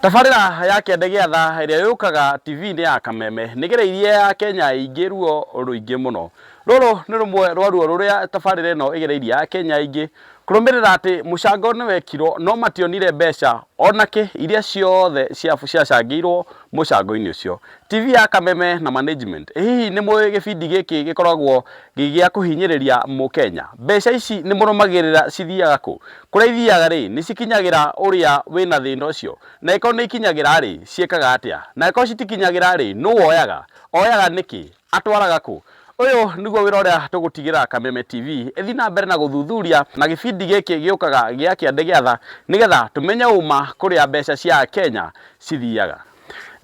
Tabarĩra ya Kĩande gĩa Tha ĩrĩa yũkaga TV-inĩ ya Kameme nĩgereirie ya Kenya ĩingĩ ruo rũingĩ mũno. Rũrũ nĩ rũmwe rwa ruo rũrĩa tabarĩra ĩno ĩgereirie ya Kenya ĩingĩ kũrũmĩrĩra atĩ mũcango nĩwekirwo no mationire mbeca onakĩ iria ciothe ciacangĩirwo mũcango-inĩ ũcio. TV ya Kameme na management, ĩ hihi nĩmũĩ gĩbindi gĩkĩ gĩkoragwo Gĩa kũhinyĩrĩria Mũkenya. Mbeca ici nĩ mũrũmagĩrĩra cithiaga kũ? Kũrĩa ithiaga rĩ, nĩ cikinyagĩra ũrĩa wĩna thĩna ũcio? Na angĩkorwo nĩ ikinyagĩra rĩ, ciĩkaga atĩa? Na angĩkorwo citikinyagĩra rĩ, nũ woyaga? Oyaga nĩkĩ? Atwaraga kũ? Ũyũ nĩguo wĩra ũrĩa tũgũtigĩra Kameme TV ĩthiĩ na mbere na gũthuthuria na gĩbindi gĩkĩ gĩũkaga gĩa Kĩande Gĩa Tha nĩgetha tũmenye ũma kũrĩa mbeca cia Akenya cithiaga.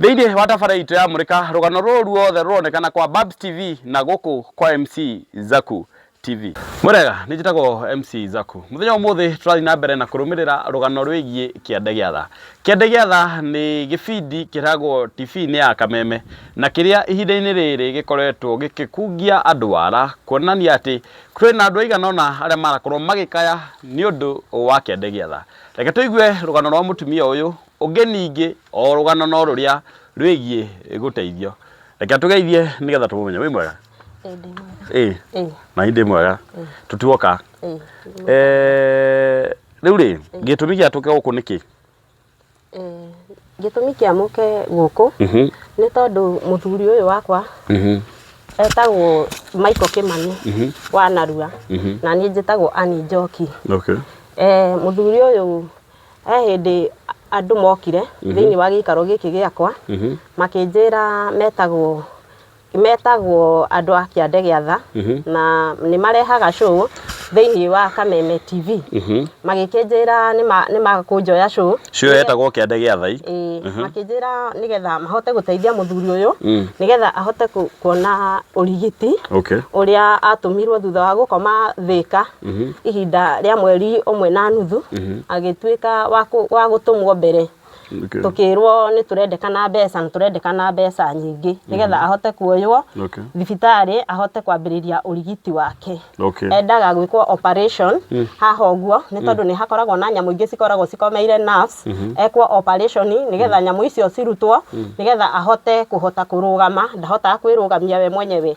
Thĩinĩ wa tabarĩra itũ ya Mũrĩka, rũgano rũrũ ruothe rũronekana kwa Babs TV na gũkũ kwa MC Zaku TV. Mwega, nĩ njĩtagwo MC Zaku. Mũthenya wa ũmũthĩ tũrathiĩ na mbere na kũrũmĩrĩra rũgano rwĩgiĩ Kĩande gĩa Tha. Kĩande gĩa Tha nĩ gĩbindi kĩragwo TV-inĩ ya Kameme na kĩrĩa ihinda-inĩ rĩrĩ gĩkoretwo gĩkĩkungia andũ wara kuonania atĩ twĩ na andũ aigana ũna arĩa marakorwo magĩkaya nĩ ũndũ wa Kĩande gĩa Tha. Reke tũigue rũgano rwa mũtumia ũyũ Ũngĩ ningĩ o rũgano no rũrĩa rwĩgiĩ gũteithio. Reke tũgeithie nĩgetha tũmũmenye. Wĩ mwega? Ĩĩ ndĩ mwega. Ĩĩ. Ĩĩ. Na niĩ ndĩ mwega. Ĩĩ. Tũtuoka. Ĩĩ. Eh, rĩu rĩ, gĩtũmi gĩa tũke gũkũ nĩ kĩ? Eh, gĩtũmi kĩa mũke gũkũ Mhm. nĩ tondũ mũthuri ũyũ wakwa Mhm. etagwo Michael Kimani Mhm. wa Narua Mhm. na niĩ njĩtagwo Annie Njoki. Okay. Eh, mũthuri ũyũ He hĩndĩ andũ mokire thĩinĩ wa gĩikaro gĩkĩ gĩakwa makĩnjĩra metagwo metagwo andũ a kĩande gĩa tha na nĩ marehaga show thĩinĩ wa kameme TV magĩkĩnjĩra nĩma- nĩmakũnjoya show Show ĩyo yetagwo kĩande gĩa thai Ĩĩ, makĩnjĩra nĩgetha mahote gũteithia mũthuri ũyũ nĩgetha ahote ku- kuona ũrigiti okay ũrĩa atũmirwo thutha wa gũkoma thĩka ihinda rĩa mweri ũmwe na nuthu agĩtuĩka wa kũ- wa gũtũmwo mbere Okay. tũkĩrwo nĩ tũrendekana mbeca na tũrendekana mbeca nyingĩ nĩgetha ahote kuoywo Okay. thibitarĩ ahote kwambĩrĩria ũrigiti wake Okay. endaga gwĩkwo operation haha ũguo nĩ tondũ nĩ hakoragwo na nyamũ ingĩ cikoragwo cikomeire nerves ekwo operation nĩgetha nyamũ icio cirutwo nĩgetha ahote kũhota kũrũgama ndahotaga kwĩrũgamia we mwenyewe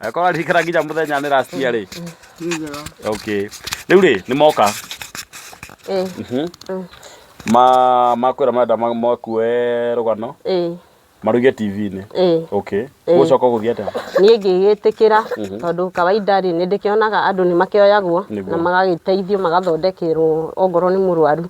akorwo arikara nginya muthenya ni rastia ri okay riu ri ni moka eh mhm. mm. ma makwira marenda makue rugano eh maruge TV-inĩ eh. okay eh. gucoka guthii atia nie ngigitikira mhm. tondu kawaida ri ni ndikionaga andu ni makioyagwo na magagiteithio magathondekerwo ongorwo ni murwaru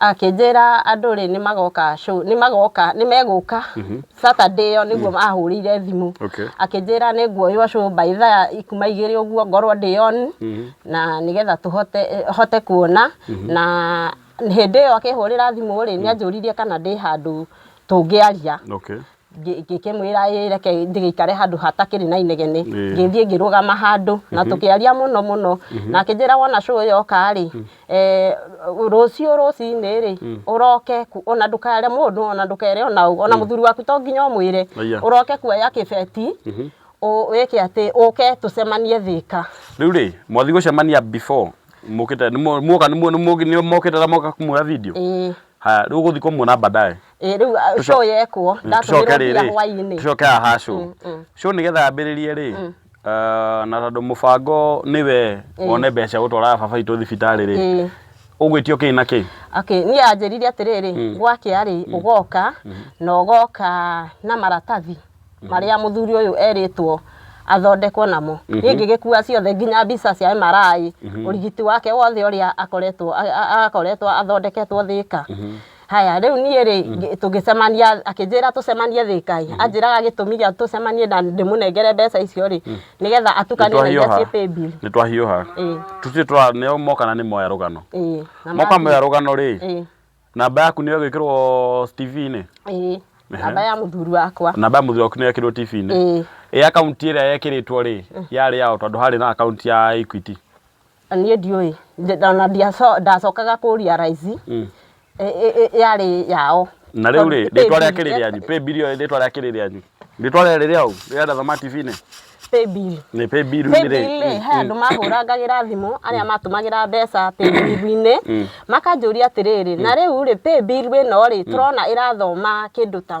akĩnjĩra andũ rĩ nĩ magoka show- nĩ magoka nĩ megũka saturday ĩyo nĩguo ahũrĩire thimũ Okay. akĩnjĩra nĩ nguoywo show by thaa ikuma igĩrĩ ũguo ngorwo ndĩ on na nĩgetha tũhote eh, hote kuona na hĩndĩ ĩyo akĩhũrĩra thimũ rĩ nĩ anjũririe kana ndĩ handũ tũngĩaria Okay. ngĩkĩmwĩra ĩ reke ndĩgĩikare handũ hatakĩrĩ na inegene ngĩthiĩ ngĩrũgama handũ na tũkĩaria mũno mũno na akĩnjĩra wona cũ ũyũ oka rĩ rũciũ rũcinĩ rĩ ũroke ona ndũkere mũndũ ona ndũkere ona ũ ona mũthuri waku to nginya ũmwĩre ũroke kuoya kĩbeti wĩke atĩ ũke tũcemanie Thĩka. Rĩu rĩ mwathiĩ gũcemania before mũkĩte nĩmwoka nĩmokĩte na moka kũmuoya video? Haya rĩu ũgũthiĩ kũmuona baadaye? Ĩ, rĩu ah, Tũco- show yekwo Mm, ndatũmĩrwo tũcoke mbia rĩrĩ, hwainĩ tũcoke haha cũ Mm, mm. cũ nĩgetha ambĩrĩrie rĩ ah, na tondũ mũbango nĩwe wone mbeca gũtwaraga baba itũ thibitarĩ rĩ Ĩ. ũgwĩtio kĩĩ na kĩĩ Okay, niĩ anjĩrire atĩrĩrĩ gwakĩa rĩ ũgoka na ũgoka na maratathi marĩa mũthuri ũyũ erĩtwo athondekwo namo niĩ ngĩgĩkua ciothe nginya mbica cia MRI ũrigiti wake wothe ũrĩa akoretwo a- a- akoretwo athondeketwo thĩka Haya, rĩu niĩ rĩ, ngĩ- tũngĩcemania, akĩnjĩra tũcemanie Thĩka ĩ, anjĩraga gĩtũmi gĩa tũcemanie na ndĩmũnengere mbeca icio rĩ, nĩgetha atukanie na iria ciĩ paybill. nä twahiåha Ĩĩ, tutirä tå nä moka na nä moya rå gano ĩĩ, na moka mathiĩ. moya rå gano rä Ĩĩ, namba yaku nä yo gwä kä rwo tv-inä ĩĩ, namba ya mũthuri wakwa. namba ya må thuri waku nä yekirwo tv-inä Ĩĩ, ä akaunti ä rä a yekä rä two rä yarä yao tondå harä na akaunti ya equity Na niĩ ndiũĩ Ndi- na ndiaco- ndacokaga kũria raici Mm. ĩ- ĩ- ĩ- yarĩ yao na rĩu rĩ Tondũ rĩtwa rĩa pay bill- kĩrĩ rĩanyu pay bill ĩyo rĩtwa rĩa kĩrĩ rĩanyu rĩtwa rĩarĩ rĩa ũ rĩa Dathoma TV-inĩ pay bill nĩ pay bill nĩ rĩ paybill-rĩ he andũ mahũrangagĩra thimũ arĩa matũmagĩra mbeca paybill-inĩ makanjũria atĩrĩrĩ na rĩu-rĩ paybill ĩno-rĩ tũrona ĩrathoma kĩndũ ta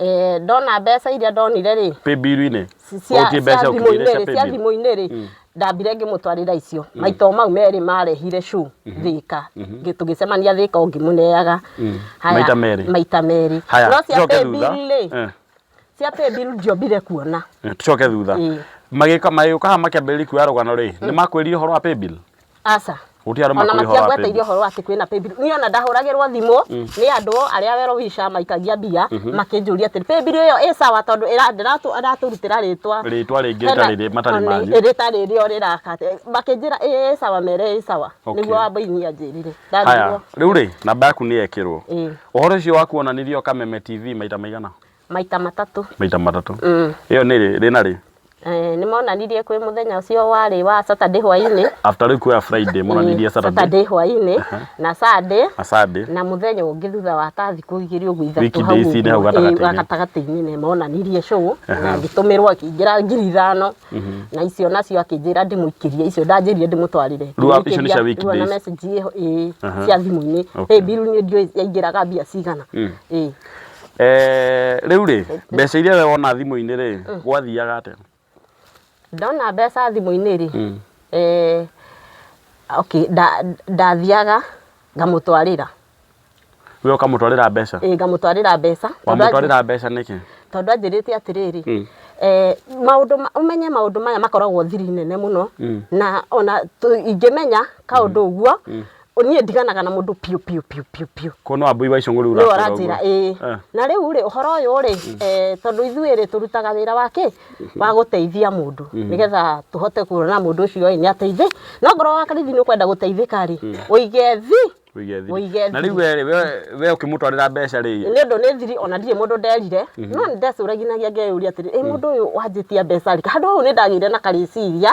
Eh, ndona mbeca iria ndonire rĩ paybill-inĩ cia Ũgũthiĩ mbeca cia ũkĩrĩire cia thimũ-inĩ rĩ cia paybill. thimũ-inĩ rĩ Mm. ndambire ngĩmũtwarĩra icio maito mau merĩ marehire cu thĩka Ngĩ- tũgĩcemania thĩka o ngĩmũneaga Haya, Maita merĩ. maita merĩ haya no cia tucoke thutha paybill rĩ Eh, cia paybill ndiombire kuona eh, tucoke thutha Ĩĩ. magĩka magĩũka haha makĩambĩrĩria kuoya rũgano rĩ nĩ makwĩrire ũhoro wa paybill aca Gũtirĩ andũ ona makũrĩha wa matiagweta paybill. irio horo atĩ kwĩna paybill niĩ ona ndahũragĩrwo thimũ nĩ andũ arĩa wero wica maikagia mbia makĩnjũria atĩ paybill ĩyo ĩ sawa tondũ ĩra- ndĩratũ- aratũrutĩra rĩtwa Rĩtwa rĩngĩ Hena- rĩtarĩ rĩ- matarĩ Ona manyu. rĩta rĩrĩa ũrĩraka makĩnjĩra ĩ ĩ sawa mere ĩ sawa Okay. nĩguo wa mbaini anjĩrire haya ndanjirwo rĩu rĩ namba yaku nĩ yekĩrwo Ĩĩ. ũhoro ũcio wakuonanirio kameme tv maita maigana Maita matatũ. Maita matatũ. Mm. Ĩyo nĩ rĩ, rĩ na rĩ? Eh, nĩ monanirie kwĩ mũthenya ũcio warĩ wa Saturday hwaĩ-inĩ. After rĩu kuoya Friday monanirie mm, Saturday. Saturday hwaĩ-inĩ uh -huh. na Sunday. Na Sunday. Na mũthenya ũngĩ thutha wa ta thikũ igĩrĩ ũguo ithatũ hau ũguo gatagatĩ-inĩ nĩ monanirie show uh -huh. na ngĩtũmĩrwo akĩingĩra ngiri ithano uh mhm. -huh. na icio nacio akĩnjĩra ndĩmũikĩrie icio ndanjĩrire ndĩmũtwarire. Rua icio nĩ cia week days. Na message ĩyo cia thimũ-inĩ. Ĩ biru nĩ ndiũĩ yaingĩraga mbia cigana. Mm. Ĩ. Rĩu rĩ, mbeca iria we wona thimũ-inĩ rĩ, gwathiaga atĩa? Ndona mbeca thimũ-inĩ rĩ, okay ndathiaga ngamũtwarĩra. We ũkamũtwarĩra mbeca? Ĩĩ ngamũtwarĩra mbeca. Wamũtwarĩra mbeca nĩkĩ? Tondũ anjĩrĩte atĩrĩrĩ, maũndũ ũmenye maũndũ maya makoragwo thiri nene mũno, na ona ingĩmenya kaũndũ ũguo, niĩ ndiganaga na mũndũ piũ piũ piũ piũ piũ ko no ambui wa icũng'ũ rĩu nĩ ũrakora ũranjĩra ũguo. ĩĩ Eh. na rĩu rĩ ũhoro ũyũ rĩ eh, tondũ ithuĩ rĩ tũrutaga wĩra wa kĩ wa gũteithia mũndũ nĩgetha tũhote kuona mũndũ ũcio ĩ nĩ ateithĩ no ngorwo wa karithi nĩ ũkwenda gũteithĩka rĩ ũige thi Ũige thiri. Ũige na thiri. rĩu we rĩ we- we ũkĩmũtwarĩra mbeca rĩ nĩ ũndũ nĩ thiri ona ndirĩ mũndũ nderire no nĩ ndecũraginagia ngeyũria atĩrĩ ĩ mũndũ ũyũ wanjĩtia mbeca rĩ handũ hau nĩ ndagĩire na karĩciria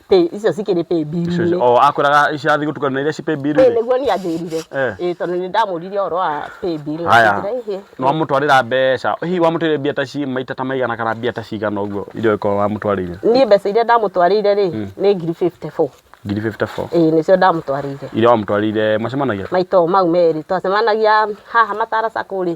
Pay, icio cikĩrĩ pay bill Icio- inĩ o akwĩraga ici athiĩ gũtukana na iria ci pay bill Ĩĩ, rĩ nĩguo niĩ anjĩrire Eh. Ĩĩ, tondũ nĩ ndamũririe ũhoro wa pay bill na haya akĩnjĩra, "Ĩhĩ, nĩ wamũtwarĩra mbeca hihi wamũtwarĩire mbia ta ci maita ta maigana kana mbia ta cigana ũguo iria ũngĩkorwo wamũtwarĩire niĩ mbeca iria ndamũtwarĩire rĩ nĩ ngiri 54 ngiri 54 Ĩĩ, nĩcio ndamũtwarĩire iria wamũtwarĩire macemanagia maitũ mau merĩ twacemanagia haha matara sacco rĩ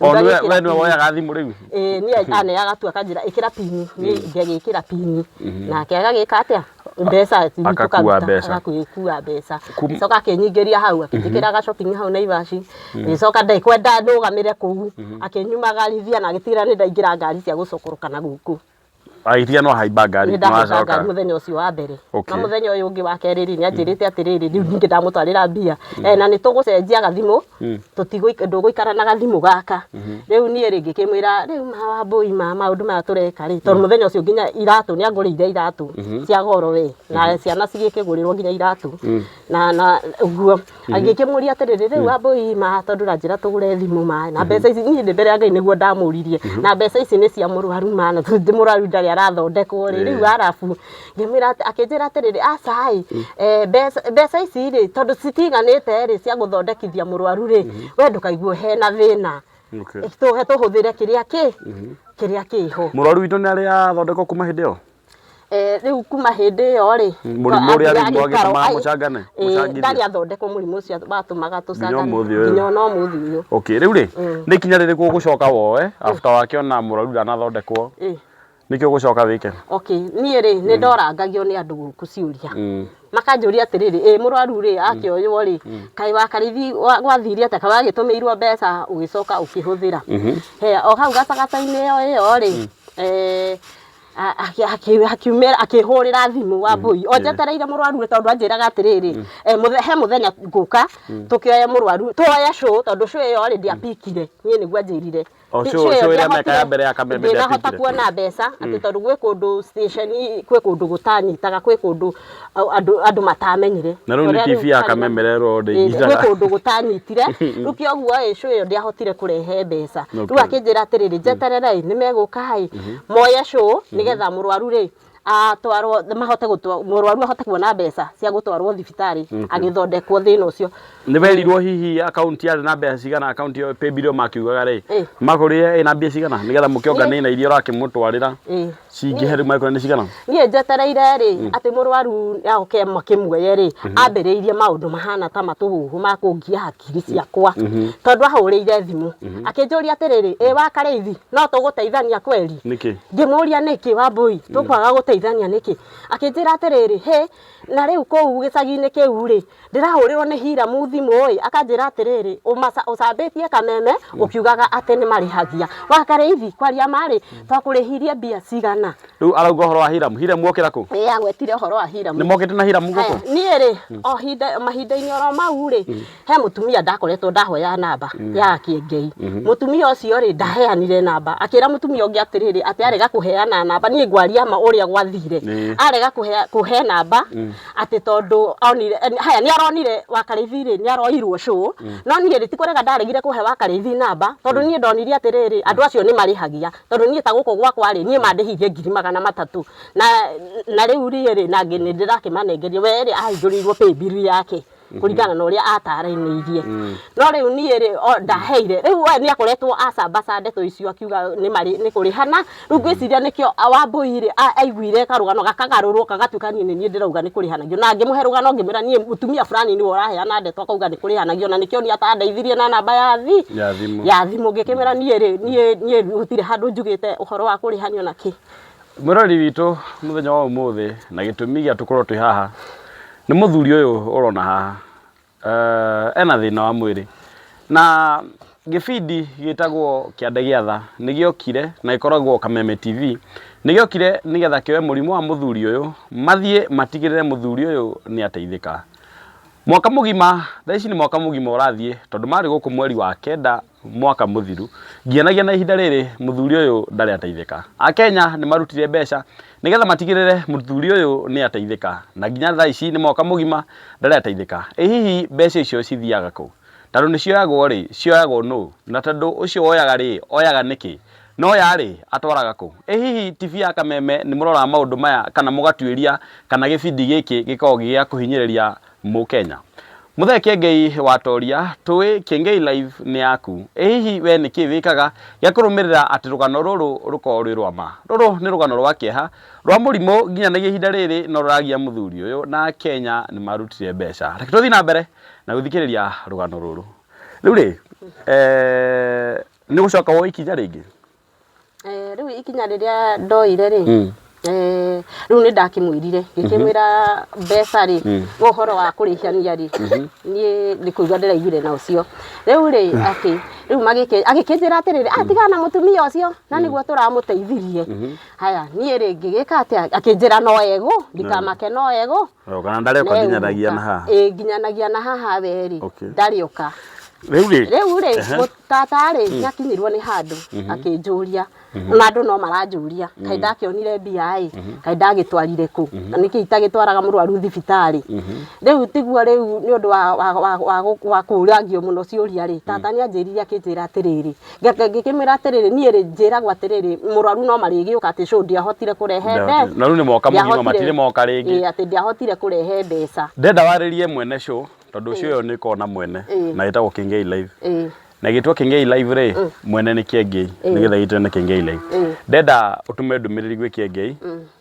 O Rĩu nĩwe- ndagĩkĩra we nĩwe pini. woyaga thimũ rĩu Ĩĩ, niĩ aneaga tu akanjĩra ĩkĩra pini niĩ ngagĩkĩra pini nake agagĩka atĩa mbeca nini Akakua tũkaruta, mbeca. agakua mbeca Kum- ngĩcoka akĩnyingĩria hau akĩnjĩkĩra gacokingi hau naivaci ngĩcoka ndaikwenda ndũgamĩre kũu akĩnyumagarithia na agĩtigĩrĩra nĩ ndaingĩra ngari cia gũcokoroka na gũkũ Wahĩtia nĩ wahaimba ngari nĩ ndahaica wacoka. ngari mũthenya ũcio wa mbere na Okay. mũthenya ũyũ ũngĩ wa kerĩ rĩ nĩ anjĩrĩte atĩrĩrĩ rĩu ningĩ ndamũtwarĩra mbia Eh, na nĩ tũgũcenjia gathimũ tũtigũik- ndũgũikara na gathimũ gaka rĩu niĩ rĩ ngĩkĩmwĩra rĩu mawa mbũi ma maũndũ maya tũreka rĩ tondũ mũthenya ũcio nginya iratũ nĩ angũrĩire iratũ cia goro we na ciana cigĩkĩgũrĩrwo nginya iratũ na na ũguo agĩkĩmũria atĩrĩrĩ rĩu wambũi ma tondũ ũranjĩra tũgũre thimũ ma na mbeca ici niĩ ndĩ mbere ya ngai nĩguo ndamũririe na mbeca ici nĩ cia mũrwaru ma na tondũ mũrwaru ndarĩ arathondekwo rĩ rĩu arabu ngĩmwĩra atĩ- akĩnjĩra atĩrĩrĩ aca ĩ eh, mbeca mbeca ici rĩ tondũ citiganĩte rĩ cia gũthondekithia mũrwaru rĩ we ndũkaigue hena thĩna Okay. tũhe tũhũthĩre kĩrĩa kĩ kĩrĩa kĩho mũrwaru witũ nĩ arĩ athondekwo kuma hĩndĩ ĩyo Eh, rĩu kuma hĩndĩ ĩyo rĩ Mũrimũ ũrĩa rĩu athiaga mwagĩtũmaga gĩikaro, ai, mũcangane, eh, mũcangithie. ndarĩ athondekwo mũrimũ ũcio watũmaga tũcangane ũmũthĩ ũyũ. nginya ona ũmũthĩ ũyũ okay rĩu rĩ nĩ ikinya rĩrĩkũ ũgũcoka woe after wakĩona mũrwaru ndanathondekwo Eh, nĩkĩ ũgũcoka wĩke okay niĩ rĩ nĩ ndorangagio nĩ andũ gũkũ ciũria Mm. makanjũria atĩrĩrĩ ĩ mũrwaru rĩ akĩoywo rĩ kaĩ wakarithi wa- gwathire atĩa kaĩ wagĩtũmĩirwo mbeca ũgĩcoka ũkĩhũthĩra He, o hau gatagatĩ-inĩ ĩyo ĩyo rĩ eh, akiumĩra akĩhũrĩra thimũ wa mbũi o njetereire mũrwaru rĩ tondũ anjĩraga atĩrĩrĩ eh, mũthe- he mũthenya ngũka tũkĩoya mũrwaru twoya cũ tondũ cũ ĩyo rĩ ndiapikire niĩ nĩguo anjĩrire O Ti- cũ- cũ ĩyo cũ ĩrĩa ndiahotire- mekaga mbere ya kameme ndinahota ndiapikire. kuona mbeca atĩ tondũ gwĩ kũndũ station gwĩ kũndũ gũtanyitaga gwĩ kũndũ au- andũ andũ matamenyire Na rĩu nĩ Ũrĩa TV ya ũtarĩ na- kamemere ĩrĩa Ĩĩ, ndĩnyiitaga. gwĩ kũndũ gũtanyitire rĩu kĩa ũguo ĩ cũ ĩyo ndĩahotire kũrehe mbeca rĩu Okay. akĩnjĩra atĩrĩrĩ njeterere nĩ megũka ĩ moye cũ nĩgetha mũrwaru rĩ atwarwo mahote gũtwa- mũrwaru ahote kuona mbeca cia gũtwarwo thibitarĩ agĩthondekwo thĩna ũcio nĩ werirwo hihi akaunti yarĩ na mbeca cigana akaunti ĩyo paybill ĩyo makiugaga rĩ Eh. makũrĩe ĩna mbia cigana nĩgetha mũkĩonganĩre na iria ũrakĩmũtwarĩra Ĩ, cingĩhe rĩu mangĩkora nĩ cigana niĩ njetereire rĩ atĩ mũrwaru oke makĩmuoye rĩ ambĩrĩirie maũndũ mahana ta matũhuhu ma kũngia hakiri ciakwa tondũ ahũrĩire thimũ akĩnjũria atĩrĩrĩ ĩ wa karĩithi no tũgũteithania kweri nĩkĩ ngĩmũria nĩkĩ wambũi tũkwaga gũteithania nĩkĩ akĩnjĩra atĩrĩrĩ hĩ Na rĩu kũu gĩcagi-inĩ kĩu-rĩ, ndĩrahũrĩrwo nĩ Hiramu thimũ-ĩ, akanjĩra atĩrĩrĩ, ũcambĩtie kameme ũkiugaga atĩ nĩ marĩhagia. Wakarĩithi kwaria ma-rĩ, twakũrĩhirie mbia cigana? Rĩu arauga ũhoro wa Hiramu. Hiramu okĩra kũ? Ĩĩ agwetire ũhoro wa Hiramu. Nĩ mokĩte na Hiramu gũkũ? Haya, niĩ-rĩ, o mahinda-inĩ oro mau-rĩ, he mutumia ndakoretwo ndahoya namba mm. ya kiengei mm-hmm. mutumia ucio ri ndaheanire namba akira mutumia ungi atiriri ati arega kuheana namba ni ngwaria ma uria gwathire arega kuhe namba mm. ati tondu onire haya ni aronire wakarithi ri ni aroirwo sho mm. no ni ri tikurega ndaregire kuhe wakarithi namba tondu ni ndonire atiriri andu acio ni marihagia tondu ni ta guku gwakwa ri ni mandihirie ngiri magana matatu na na riu ri ri na ngini ndirakimanengeria we ri ahinguriirwo pay bill yake kũringana na ũrĩa ataranĩirie no rĩu niĩ rĩ o- ndaheire rĩu we nĩ akoretwo acambaca ndeto icio akiuga nĩ marĩ- nĩ kũrĩhana rĩu ngwĩciria nĩkĩo a- wambũi rĩ a- aiguire karũgano gakagarũrwo gagatuĩka niĩ nĩ niĩ ndĩrauga nĩ kũrĩhanagio na ngĩmũhe rũgano ngĩmwĩra niĩ mũtumia fulani nĩwe ũraheana ndeto akauga nĩ kũrĩhanagio na nĩkĩo niĩ atandeithirie na namba ya thi Ya thimũ. ya thimũ ngĩkĩmwĩra niĩ rĩ niĩ niĩ gũtirĩ handũ njugĩte ũhoro wa kũrĩhanio na kĩ Mwĩroreri witũ mũthenya wa ũmũthĩ na gĩtũmi gĩa tũkorwo twĩ haha nĩ mũthuri ũyũ ũrona haha uh, ena thĩna wa mwĩrĩ na gĩbindi gĩtagwo kĩande gĩa tha nĩ gĩokire na gĩkoragwo kameme tv nĩ gĩokire nĩgetha kĩoe mũrimũ wa mũthuri ũyũ mathiĩ matigĩrĩre mũthuri ũyũ nĩ ateithĩka mwaka mũgima thaa ici nĩ mwaka mũgima ũrathiĩ tondũ marĩ gũkũ mweri wa kenda Mwaka mũthiru ngianagia na ihinda rĩrĩ mũthuri ũyũ ndarĩ ateithĩka. Akenya nĩ marutire mbeca nĩgetha matigĩrĩre mũthuri ũyũ nĩ ateithĩka na nginya thaa ici nĩ mwaka mũgima ndarĩ ateithĩka. Ĩ hihi mbeca icio cithiaga kũ? Tondũ nĩ cioyagwo rĩ, cioyagwo nũ? Na tondũ ũcio woyaga rĩ, oyaga nĩkĩ? Na oya rĩ, atwaraga kũ? Ĩ hihi TV ya Kameme nĩ mũroraga maũndũ maya kana mũgatuĩria kana gĩbindi gĩkĩ gĩkoragwo gĩ gĩa kũhinyĩrĩria Mũkenya. Mũthee Kĩengei watoria, Tũĩ Kĩengei Live nĩ yaku. Ĩ hihi wee nĩ kĩĩ wĩkaga gĩa kũrũmĩrĩra atĩ rũgano rũrũ rũkorũo rwĩ rwa ma? Rũrũ nĩ rũgano rwa kĩeha, rwa mũrimũ nginyanagia ihinda rĩrĩ no rũragia mũthuri ũyũ na Akenya nĩ marutire mbeca. Reke tũthiĩ na mbere na gũthikĩrĩria rũgano rũrũ. Rĩu rĩ, nĩ ũgũcoka woe ikinya rĩngĩ? Rĩu ikinya rĩrĩa ndoire rĩ, rĩu nĩ ndakĩmwĩrire ngĩkĩmwĩra mbeca rĩ, we ũhoro wa kũrĩhania rĩ, niĩ nĩ kũigua ndĩraiguire na ũcio. Rĩu rĩ, atĩ rĩu magĩkĩ, agĩkĩnjĩra atĩrĩrĩ, ah tigana na mũtumia ũcio na nĩguo tũramũteithirie. Haya niĩ rĩ ngĩgĩka atĩa, akĩnjĩra no egũ, ndikamake no egũ. Yo, kana ndarĩ oka nginyanagia na haha ĩ nginyanagia na haha we rĩ Okay. ndarĩ oka rĩu rĩ rĩu rĩ mũ- tata rĩ nĩ akinyirwo nĩ handũ akĩnjũria na andũ no maranjũria kaĩ ndakĩonire mbia ĩ kaĩ ndagĩtwarire kũ na nĩkĩ itagĩtwaraga mũrwaru thibitarĩ rĩu tiguo rĩu nĩ ũndũ wa- wa- wa- wa gũ- wa kũragio mũno ciũria rĩ tata nĩ anjĩrire akĩnjĩra atĩrĩrĩ Ngake- ngĩkĩmwĩra atĩrĩrĩ niĩ rĩ njĩragwo atĩrĩrĩ mũrwaru no marĩgĩũka atĩ cũ ndiahotire kũrehe Nda- mbe- na rĩu nĩ moka mũgima, ndiahotire- matirĩ moka rĩngĩ. Ĩĩ, atĩ ndiahotire kũrehe mbeca ndenda warĩrie mwene show tondũ show ĩyo nĩ ĩkoragwo na mwene Ĩĩ. na ĩtagwo kĩngei live Ĩĩ, na gĩtwa kĩngei live rĩ mwene nĩ kĩengei nĩgetha gĩtwe na kĩngei live Ĩĩ. ndenda ũtume ndũmĩrĩri gwĩ kĩengei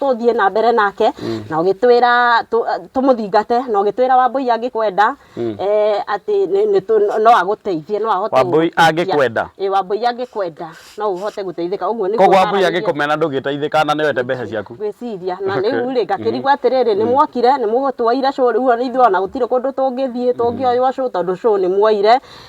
tũthiĩ na mbere nake na ũgĩtwĩra tũ- tũmũthingate na ũgĩtwĩra wambũi angĩkwenda eh, atĩ nĩ- nĩ tũ- no agũteithie no ahote Wambũi gũgũteithia. angĩkwenda? Ĩ, wambũi angĩkwenda no ũhote gũteithĩka ũguo nĩguo koguo ambui maaragĩria. agĩkũmena ndũgĩteithĩka na nĩwete mbeca ciaku gwĩciria na Okay. rĩu rĩ ngakĩrigwo atĩrĩrĩ nĩ mwokire nĩ mũgũtwoire cũ rĩu ona ithuĩ ona gũtirĩ kũndũ tũngĩthiĩ tũngĩoywo cũ tondũ cũ nĩ mwoire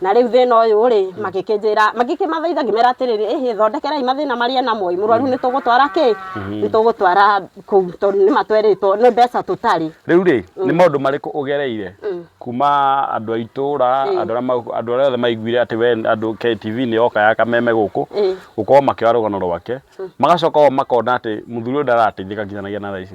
na rĩu thĩna ũyũ rĩ magĩkĩnjĩra magĩkĩmathaitha ngĩmera atĩrĩrĩ ĩhĩ thondekerai mathĩna marĩa namo ĩ mũrwaru nĩ tũgũtwara kĩ nĩ tũgũtwara kũu tondũ nĩ matwerĩtwo nĩ mbeca tũtarĩ rĩu rĩ nĩ maũndũ marĩkũ ũgereire kuma andũ a itũra andũ arĩa mau- andũ arĩa othe maiguire atĩ we andũ KTV nĩ yoka ya kameme gũkũ Ĩĩ. gũkorwo makĩoya rũgano rwake magacoka o makona atĩ mũthuri ũyũ ndarateithĩka nginyanagia na thaa ici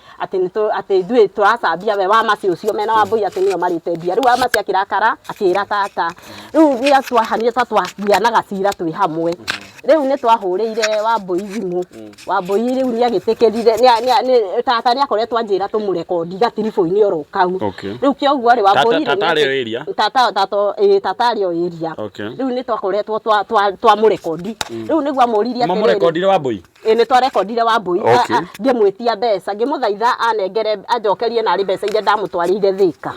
atĩ nĩtũ atĩ ithuĩ tũracambia we wa maci ũcio mena wa mbũi atĩ nĩo marĩte mbia rĩu wa maci akĩrakara akĩra tata rĩu rĩa twahanire ta twagĩanaga cira twĩ hamwe rĩu nĩ twahũrĩire wa mbũi thimũ wa mbũi rĩu nĩ agĩtĩkĩrire nĩa- nĩa- nĩ- tata nĩ akoretwo anjĩra tũmũrekondi gatiribũ-inĩ oro kau Okay. rĩu kĩa ũguo rĩ wa Tata- mbũi tata arĩ o area? tata tata ĩĩ, tata arĩ o area Okay. rĩu nĩ twakoretwo twa- twa- twamũrekondi rĩu nĩguo amũririe atĩrĩrĩ, mamũrekondire wa mbũi ĩ nĩ twarekondire wambui Okay. ngĩmwĩtia mbeca ngĩmũthaitha anengere anjokerie narĩ mbeca iria ndamũtwarĩire thĩka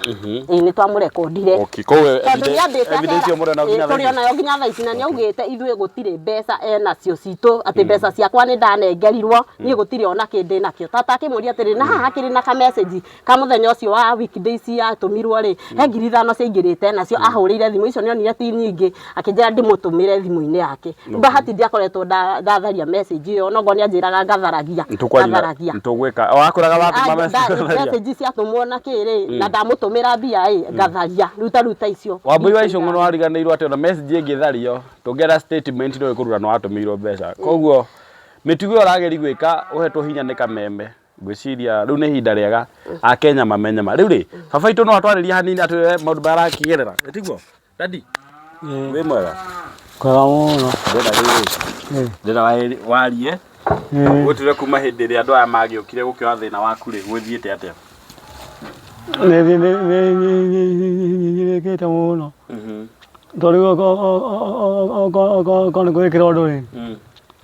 ĩ nĩ twamũrekondire Okay, koguo tondũ nĩ ambĩte evidence- evidence ĩyo mũrĩ nayo nginya thaa tũrĩ ici? onayo nginya thaa ici na nĩ augĩte ithuĩ gũtirĩ mbeca enacio citũ atĩ mbeca ciakwa nĩ ndanengerirwo niĩ gũtirĩ ona kĩndĩ nakĩo tata akĩmũria atĩrĩ na haha hakĩrĩ na ka message ka muthenya ucio wa weekdays atumirwo ri he ngiri ithano ciaingirite nacio ahurire thimu icio nionire ti nyingi akinjira ndimutumire thimu-ini yake bahati ndiakoretwo nda- ndatharia message iyo nogo nianjiraga ngatharagia ngatharagia nitugwika wakwiraga watuma message message ciatumwo na kiri na ndamutumira mbia ri ngatharia ruta ruta icio wambui wa icungu no ariganirwo ati ona message ingithario tungera statement ndo ikurura no atumirwo mbeca koguo mitugo urageria gwika uhetwo hinya ni kameme ngwĩciria rĩu nĩ ihinda rĩega akenya mamenye ma rĩu rĩ baba itũ no atwarĩria hanini atwĩre maũndũ marĩa arakĩgerera tiguo dadi wĩ mwega Kwega mũno. ndĩra rĩrĩ ndĩra wa- warie gũtire kuma hĩndĩ ĩrĩa andũ aya magĩũkire gũkĩoya thĩna waku rĩ gwĩthiĩte atĩa Nĩnyirĩkĩte mũno. Tondũ rĩu okorwo nĩ gwĩkĩra ũndũ rĩ,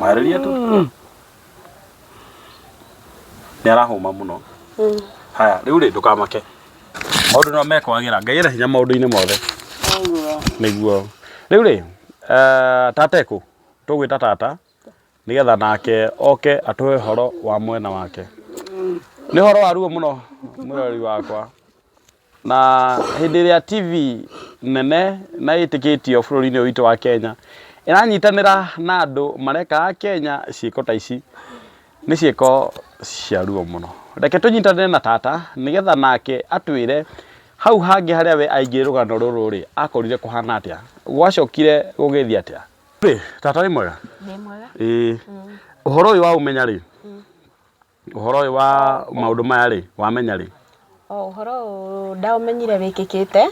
Mareria tu. Nĩ arahũma mũno. Haya, rĩu rĩ ndũkamake. Maũndũ no mekwagĩra. Ngai ena hinya maũndũ-inĩ mothe. Nĩguo. Rĩu rĩ, eh, tata ekũ? Tũgwĩta tata nĩgetha nake oke atũhe ũhoro wa mwena wake. Nĩ ũhoro wa ruo mũno mũrori wakwa. Na hĩndĩ ĩrĩa TV nene na ĩtĩkĩtio bũrũri-inĩ ũyũ witũ wa Kenya ĩranyitanĩra na andũ mareka Akenya ciĩko ta ici, nĩ ciĩko cia ruo mũno. Reke tũnyitanĩre na tata nĩ getha nake atwĩre hau hangĩ harĩa we aingĩrire rũgano rũrũ rĩ, akorire kũhana atĩa, gwacokire gũgĩthiĩ atĩa. Tata wĩ mwega? Ndĩ mwega. Ĩĩ. Ũhoro ũyũ waũmenya rĩ? Ũhoro ũyũ wa maũndũ maya rĩ, wamenya rĩ? Ũhoro ũyũ ndaũmenyire wĩkĩkĩte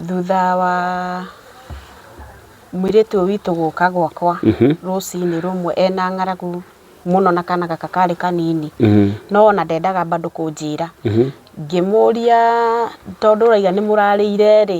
thutha wa mũirĩtu ũyũ witũ gũka gwakwa rũcinĩ rũmwe ena ng'aragu mũno na kana gaka karĩ kanini, no ona ndendaga bado kũnjĩra. Ngĩmũria tondũ ũrauga nĩ mũrarĩire rĩ,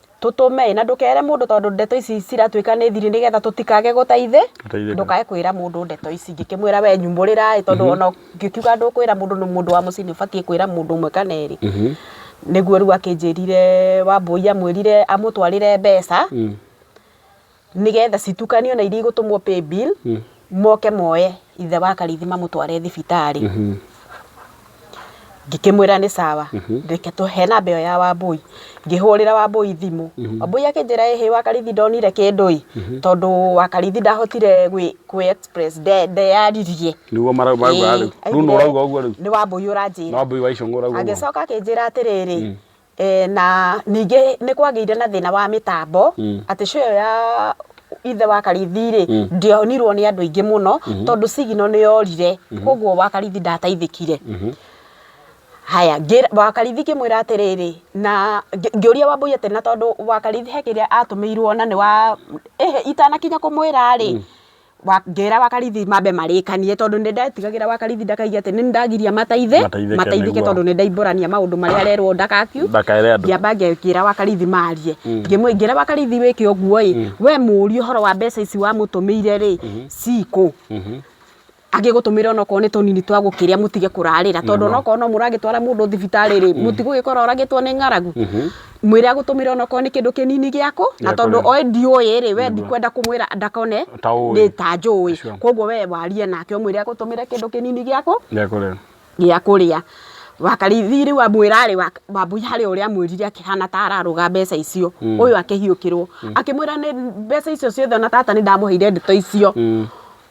tũtũme na ndũkere mũndũ tondũ ndeto ici ciratuĩka nĩ thiri nĩgetha tũtikage gũteithĩ ndũkae kwĩra mũndũ ndeto ici ngĩkĩmwĩra we nyumbũrĩra tondũ mhm. ona ngĩkiuga ndũkwĩra mũndũ nĩ mũndũ wa mũciĩ nĩ ũbatiĩ kwĩra mũndũ ũmwe kana erĩ mhm. nĩguo rĩu akĩnjĩrire wambũi amwĩrire amũtwarĩre mbeca mm. nĩgetha citukanio na iria igũtũmwo pay bill moke moe ithe wa karithi mamũtware thibitarĩ ngĩkĩmwĩra nĩ sawa reke tũ- he namba ĩyo ya wambũi ngĩhũrĩra wambũi thimũ wambũi akĩnjĩra ĩhĩ wa karithi ndonire kĩndũ ĩ tondũ wa karithi ndahotire gwĩ- kwĩ express nde- ndeyaririe niguo marauga rĩu rĩu nĩ ũrauga ũguo rĩu nĩ wambũi nĩ ũranjĩra wambui wa icũng'ũ ũrauga ũguo agĩcoka akĩnjĩra atĩrĩrĩ Eh, na ningĩ nĩ kwagĩire na thĩna wa mĩtambo atĩ show ĩyo ya ithe wa karithi rĩ ndĩonirwo nĩ andũ aingĩ mũno tondũ sigino nĩ yorire koguo wa karithi ndateithĩkire haya ngĩra- wa karithi ngĩmwĩra atĩrĩrĩ na ngĩ- ngĩũria wambũi atĩ na tondũ wa karithi he kĩrĩa atũmĩirwo na nĩ wa ehe itanakinya kũmwĩra rĩ ngĩra Wakarithi mambe marĩkanie tondũ nĩ ndetigagĩra Wakarithi ndakaigue atĩ nĩ ndagiria mateithĩke Mateithĩke mateithĩke nĩguo. tondũ nĩ ndaimbũrania maũndũ marĩa arerwo ndakakiu Ndakere andũ. ngĩamba ngĩra Wakarithi marie Ngĩmwĩ- ngĩra Wakarithi wĩke ũguo ĩ we mũrie ũhoro wa mbeca ici wamũtũmĩire rĩ cikũ angĩgũtũmĩra onokorwo nĩ tũnini twa gũkĩrĩa mũtige kũrarĩra tondũ onokorwo no mũragĩtwara mũndũ thibitarĩ rĩ mũtigũgĩkora oragĩtwo nĩ ng'aragu mwĩre agũtũmĩre onokorwo nĩ kĩndũ kĩnini gĩakũ na Gĩa tondũ kũrĩa. oĩ ndiũĩ rĩ we ndikwenda kũmwĩra ndakone Ta ũĩ. nĩ ta njũĩ Sure. koguo we warie nake ũmwĩre agũtũmĩre kĩndũ kĩnini gĩakũ Gĩa kũrĩa. gĩa kũrĩa wakarithi rĩu amwĩra rĩ Wak- wambui harĩ ũrĩa amwĩrire akĩhana ta ararũga mbeca icio ũyũ akĩhiũkĩrwo akĩmwĩra nĩ mbeca icio ciothe ona tata nĩ ndamũheire ndeto icio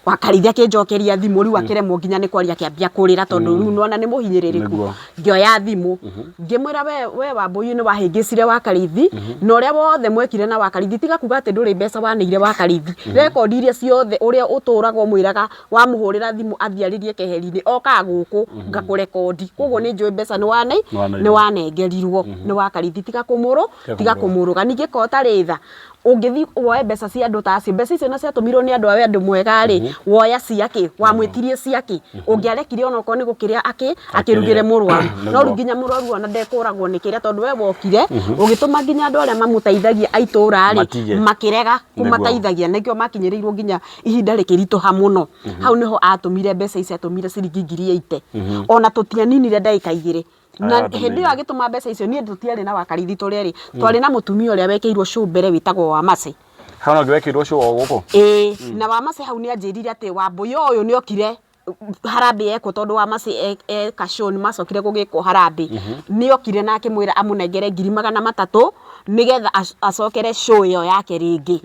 wakarithia kinjokeria thimu riu akiremwo nginya ni kwaria kiambia kurira tondu riu nona ni muhinyiririku Niguo. ngioya thimu ngimwira we we wambuyu ni wahingicire wakarithi na uria wothe mwekire na wakarithi tiga kuga ati nduri mbeca waneire wakarithi record iria ciothe uria uturaga umwiraga wamuhurira thimu athie aririe keheri-ini oka guku ngakurekondi koguo ni njui mbeca ni wane Nĩwanengerirwo. ni wanengerirwo ni wakarithi tiga kumuru tiga Tiga kumuru. kumuruga ningi ko tari tha ũngĩthiĩ woe mbeca cia andũ ta acio mbeca icio na ciatũmirwo nĩ andũ a wendo mwega rĩ woya ciakĩ wamwĩtirie ciakĩ ũngĩarekire ona okorwo nĩ gũkĩrĩa akĩ akĩrugĩre mũrwaru Nĩguo. no rĩu nginya mũrwaru ona ndekũragwo nĩ kĩrĩa tondũ we wokire ũgĩtũma nginya andũ arĩa mamũteithagia a itũũra rĩ Matige. makĩrega Nĩguo. kũmateithagia nĩkĩo makinyĩrĩirwo nginya ihinda rĩkĩritũha mũno hau nĩho atũmire mbeca ici atũmire ciringi ngiri ĩite ona tũtianinire ndagĩka igĩrĩ na hĩndĩ ĩyo agĩtũma mbeca icio niĩ tũtiarĩ na wakarithi tũrĩ erĩ twarĩ na mũtumia ũrĩa wekĩirwo cũ mbere wĩtagwo wamacĩ hana ũngĩ wekĩirwo cũ o gũkũ ĩĩ na wamacĩ hau nĩ anjĩrire atĩ wambũi ũyũ nĩ okire harambĩ yekwo tondũ wamacĩ e- eka cũ nĩ macokire gũgĩkwo harambĩ nĩ okire na akĩmwĩra amũnengere ngiri magana matatũ nĩgetha ac- acokere cũ ĩyo yake rĩngĩ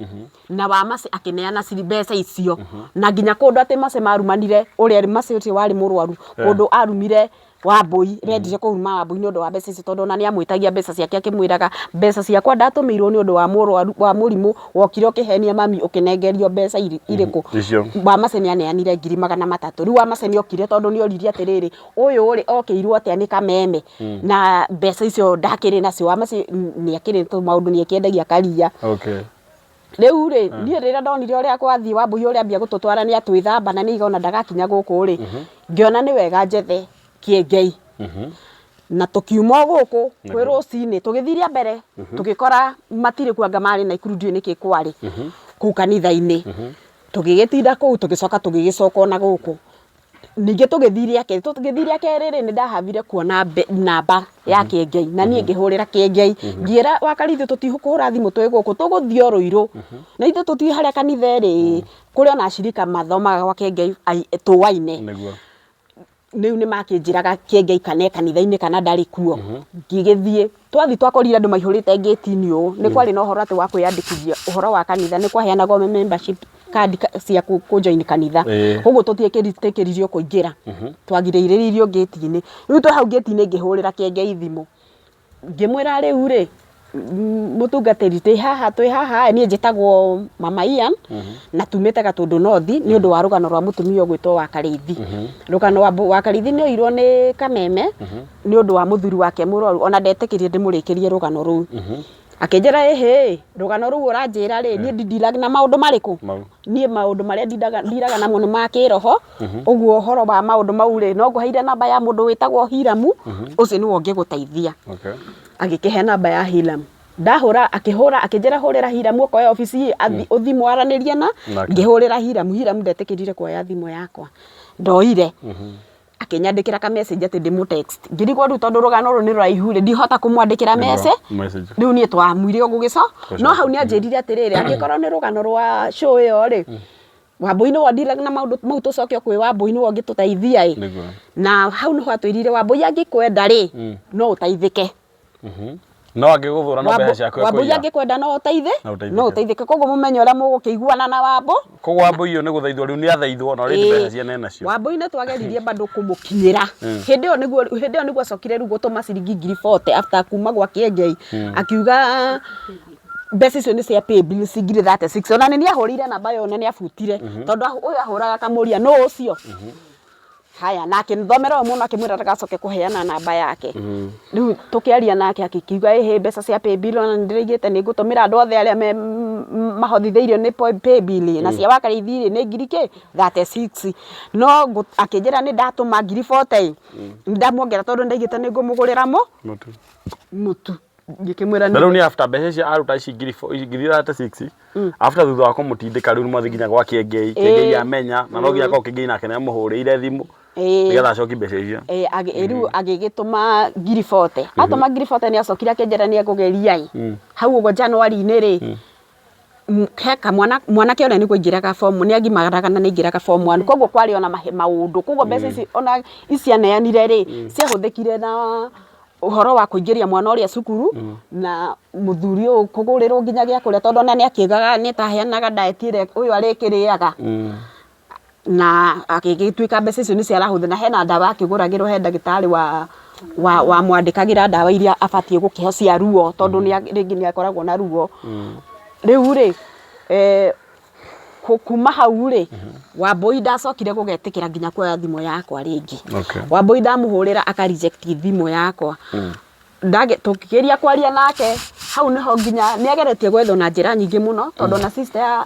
na wamacĩ akĩneana ciri- mbeca icio na nginya kũndũ atĩ macĩ marumanire ũrĩa macĩ ũcio warĩ mũrwaru kũndũ arumire Wambũi, arendire kũruma Wambũi nĩ ũndũ wa mbeca icio tondũ ona nĩ amwĩtagia mbeca ciake akĩmwĩraga mbeca ciakwa ndatũmĩirwo nĩ ũndũ wa mũrwaru wa mũrimũ wokire ũkĩhenia mami ũkĩnengerio mbeca irĩkũ? Wamacĩ nĩ aneanire ngiri magana matatũ. Rĩu Wamacĩ nĩ okire tondũ nĩ oririe atĩrĩrĩ, ũyũ rĩ okĩirwo atĩa nĩ kameme na mbeca icio ndakĩrĩ nacio? Wamacĩ nĩ akĩrĩ tũmaũndũ nĩ akĩendagia karia. Rĩu rĩ, niĩ rĩrĩa ndonire ũrĩa gwathiĩ Wambũi ũrĩa ambia gũtũtwara nĩ atwĩthamba na nĩ aiga ona ndagakinya gũkũ rĩ, ngĩona nĩ wega njethe Kĩengei. Na tũkiuma o gũkũ kwĩ rũcinĩ, tũgĩthiĩ rĩa mbere tũgĩkora matirĩ kuo anga marĩ Naikuru ndiũĩ nĩkĩ kwarĩ kũu kanitha-inĩ. Tũgĩgĩtinda kũu tũgĩcoka tũgĩgĩcoka o na gũkũ. Ningĩ tũgĩthiĩ rĩa kerĩ, tũgĩthiĩ rĩa kerĩ rĩ, nĩ ndahabire kuona namba ya Kĩengei, na niĩ ngĩhũrĩra Kĩengei, ngĩra Wakari ithuĩ tũtikũhũra thimũ twĩ gũkũ, tũgũthiĩ o Rũirũ, na ithuĩ tũtiũĩ harĩa kanitha ĩrĩ ĩ, kũrĩ ona acirika mathomaga gwa Kĩengei tũaine, rĩu nĩ makĩnjĩraga Kĩengei kana e kanitha-inĩ kana ndarĩ kuo, ngĩgĩthiĩ. Twathiĩ twakorire andũ maihũrĩte ngĩti-inĩ ũũ, nĩ kwarĩ na ũhoro atĩ wa kwĩyandĩkithia ũhoro wa kanitha, nĩ kwaheanagwo membership card cia kũ join kanitha, Ĩĩ. ũguo tũtietĩkĩririo kũingĩra, twagirĩrĩirio ngĩti-inĩ, rĩu twĩ hau ngĩti-inĩ ngĩhũrĩra Kĩengei thimũ, ngĩmwĩra rĩu rĩ, mũtungatĩri twĩ haha twĩ haha, niĩ njĩtagwo mama Ian, na tumĩte Gatũndũ North, nĩ ũndũ wa rũgano rwa mũtumia ũgwĩtwo Wakarĩithi, rũgano wa Wakarĩithi nĩ oirwo nĩ kameme, nĩ ũndũ wa mũthuri wake mũrwaru ona ndetĩkĩrire ndĩmũrĩkĩrie rũgano rũu akĩnjĩra ĩhĩ rũgano rũu ũranjĩra rĩ niĩ ndindiraga na maũndũ marĩkũ Mau. niĩ maũndũ marĩa ndindaga- ndiraga namo nĩ ma kĩroho ũguo ũhoro wa maũndũ mau rĩ no ngũheire namba ya mũndũ wĩtagwo hiramu ũcio nĩwe ũngĩgũteithia Okay. agĩkĩhe namba ya hiram ndahũra akĩhũra akĩnjĩra hũrĩra hiram ũkoya obici athi- ũthi mwaranĩrie na Nake. ngĩhũrĩra hiram hiram ndetĩkĩrire kuoya thimũ yakwa ndoire akĩnyandĩkĩra ka message atĩ ndĩmũ text ngĩrigwo rĩu tondũ rũgano rũrũ nĩ rũraihu rĩ ndihota kũmwandĩkĩra message message rĩu niĩ twamwire ũguo gĩco no hau nĩ anjĩrire atĩrĩrĩ angĩkorwo nĩ rũgano rwa show ĩyo rĩ wambũi nĩwe ũndilaga na maũndũ mau tũcoke kwĩ wambũi nĩwe ũngĩtũteithia ĩ Nĩguo. na hau nĩho atwĩrire wambũi angĩkwenda rĩ no ũteithĩke Mhm. no angĩgũthũra no mbeca ciaku wambũi ekũiya angĩkwenda no ũteithĩ No ũteithĩke. no ũteithĩke koguo mũmenye ũrĩa mũgũkĩiguana na wambũ koguo wambũi ũyũ nĩ gũthaithwo rĩu nĩ athaithwo na already Ĩĩ. mbeca ciene enacio wambũi nĩ twageririe bado kũmũkinyĩra hĩndĩ ĩyo nĩguo hĩndĩ ĩyo nĩguo acokire rĩu gũtũma ciringi ngiri 40 after kuma gwa kĩengei akiuga mbeca icio nĩ cia pay bill ci ngiri 36 ona nĩ nĩ ahũrĩire namba yo na nĩ abutire tondũ ahu- ũyũ ahũraga akamũria nũ ũcio Haya, na akĩmthomera ũyũ mũno akĩmwĩra ndagacoke kũheana namba yake mm. rĩu tũkĩaria nake agĩkiuga ĩhĩ mbeca cia paybill ona nĩndĩraigĩte nĩngũtũmĩra andũ othe arĩa mahothithĩirio nĩ paybill na mm. cia wakarĩithi rĩ nĩ ngiri kĩ 36 no akĩnjĩra nĩ ndatũma ngiri 40 mm. ndamuongera tondũ ndaigĩte nĩngũmũgũrĩra mũ mũtu ngĩkĩmwĩra na rĩu nĩ after mbeca icio aruta ici ngiri fo- ici ngiri thate six after thutha wa kũmũtindĩka rĩu nĩmwathi nginya gwa kĩengei kĩengei Eh. amenya na no nginya korwo kĩengei nake nĩamũhũrĩire thimũ Ĩĩ. nĩgetha acoki mbeca icio Eh, agĩ- eh, rĩu agĩgĩtũma ngiri bote atũma ngiri bote nĩ acokire akĩnjĩra nĩ egũgeria ĩ hau ũguo januari-inĩ rĩ he kamwana, mwanake ũrĩa nĩguo aingĩraga form nĩ agimaraga na nĩ aingĩraga form one, koguo kwarĩ ona maũndũ, koguo mbeca ici ona ici aneanire rĩ, ciahũthĩkire na ũhoro wa kũingĩria mwana ũrĩa cukuru, na mũthuri ũyũ kũgũrĩrwo nginya gĩa kũrĩa tondũ ona nĩ akĩagaga, nĩ ta aheanaga diet ĩrĩa ũyũ arĩkĩrĩaga. na agĩgĩtuĩka mbeca icio nĩ ciarahũthĩra, hena ndawa akĩgũragĩrwo he ndagĩtarĩ wamwandĩkagĩra ndawa iria abatiĩ gũkĩheo cia ruo tondũ rĩngĩ nĩ akoragwo na ruo. Rĩu rĩ, kuuma hau rĩ, Wambũi ndacokire gũgetĩkĩra nginya kuoya thimũ yakwa rĩngĩ. Wambũi ndamũhũrĩra aka reject thimũ yakwa. Tũkĩgeria kwaria nake, hau nĩho nginya, nĩ ageretie gwethwo na njĩra nyingĩ mũno tondũ ona sister ya